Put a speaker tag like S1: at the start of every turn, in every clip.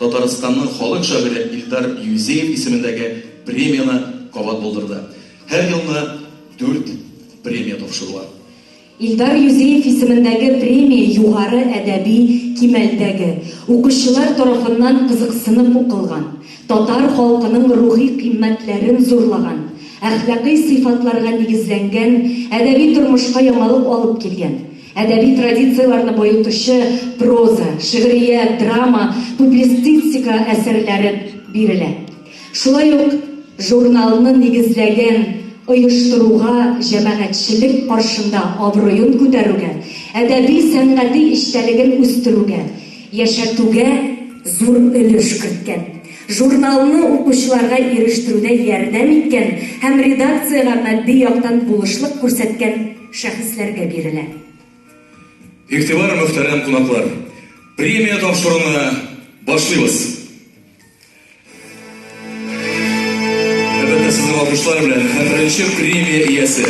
S1: Татарстанның халык шагыйре Илдар Юзеев исемендәге премияне кабат булдырды. Һәр елны дүрт премия тапшырыла. Илдар
S2: Юзеев исемендәге премия югары әдәби кимәлдәге, укучылар тарафыннан кызыксынып укылган, татар халкының рухи кыйммәтләрен зурлаган, әхлакый сыйфатларга нигезләнгән, әдәби тормышка яңалык алып килгән, Әдәби традицияләрне баетучы проза, шигърият, драма, публистистика әсәрләре бирелә. Шулай ук журналны нигезләгән оештыруга, җәмәгатьчелек каршында абруен күтәрүгә, әдәби-сәнгати эчтәлеген үстерүгә, яшәтүгә зур өлеш керткән. Журналны укучыларга ирештерүдә ярдәм иткән һәм редакциягә матди яктан булышлык күрсәткән шәхесләргә бирелә.
S1: Игътибар, мөхтәрәм кунаклар! Премия тапшыруны башлыйбыз! Әлбәттә, сезнең алкышлар белән һәм беренче премия иясе,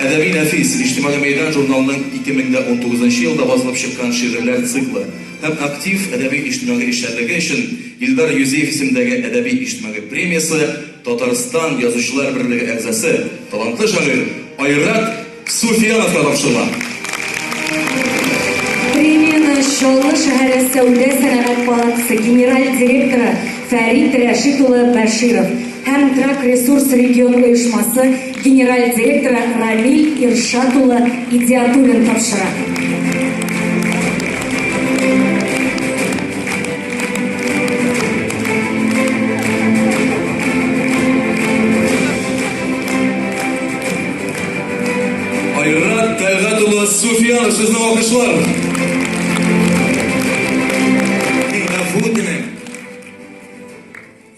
S1: Әдәби нәфис, Иҗтимагый мәйдан журналының 2019 нчы елда басылып чыккан шигырьләр циклы һәм актив әдәби-иҗтимагый эшчәнлеге өчен Илдар Юзеев исемендәге әдәби-иҗтимагый премиясе, Татарстан Язучылар берлеге әгъзасы, талантлы шагыйрь Айрат Суфияновка тапшырыла.
S2: Премияне Чаллы шәһәре сәүдә-сәнәгать палатасы генераль директоры Фәрит Рәшит улы Бәширов һәм Трак Ресурс регион оешмасы генераль директоры Рамиль Иршат улы Игдиатуллин тапшыра.
S1: Айрат Тәгат улы Суфиянов сезне алкышлар.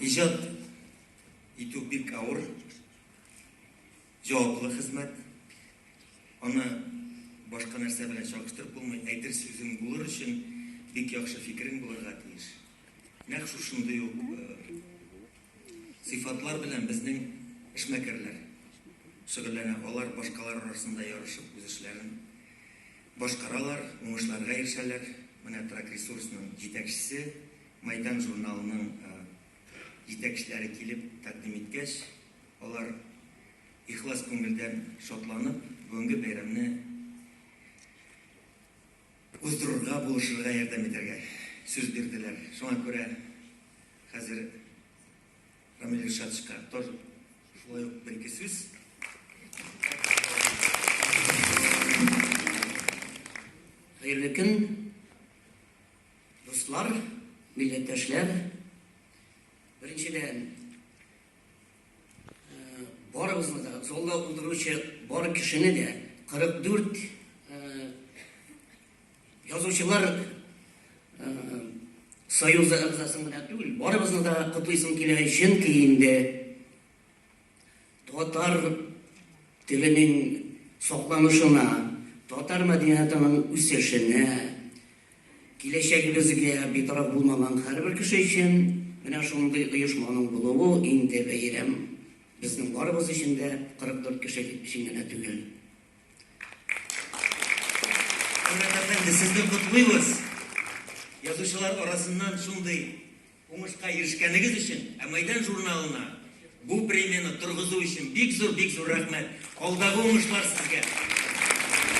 S3: Иҗат итү бик авыр. Җаваплы хезмәт. Аны башка нәрсә белән чагыштырып булмый. Әйтер сүзең булыр өчен бик яхшы фикерең булырга тиеш. Нәкъ шушындый ук сыйфатлар белән безнең эшмәкәрләр шөгыльләнә. Алар башкалар арасында ярышып үз эшләрен башкаралар, уңышларга ирешәләр. Менә Трак ресурсның җитәкчесе, Майдан журналының җитәкчеләре килеп тәкъдим иткәч, алар ихлас күңелдән шатланып, бүгенге бәйрәмне уздырырга, булышырга, ярдәм итәргә сүз бирделәр. Шуңа күрә хәзер Рамил Ришатовичка тор шулай ук бер-ике сүз.
S4: Хәерле көн, Дуслар, милләттәшләр, беренчедән, барыгызны да, залда утыручы бар кешене дә, 44 язучылар союзы әгъзасын гына түгел, барыбызны да котлыйсым килә, чөнки инде татар теленең сакланышына, татар мәдәниятының үсешенә, Киләчәгебезгә битараф булмаган һәрбер кеше өчен менә шундый оешманың булуы инде бәйрәм, безнең барыбыз өчен дә, 44 кеше өчен генә түгел.
S3: Хөрмәт әфәнде, сезне котлыйбыз, язучылар арасыннан шундый уңышка ирешкәнегез өчен, ә Мәйдан журналына бу премияне торгызу өчен бик зур, бик зур рәхмәт. Алдагы уңышлар сезгә!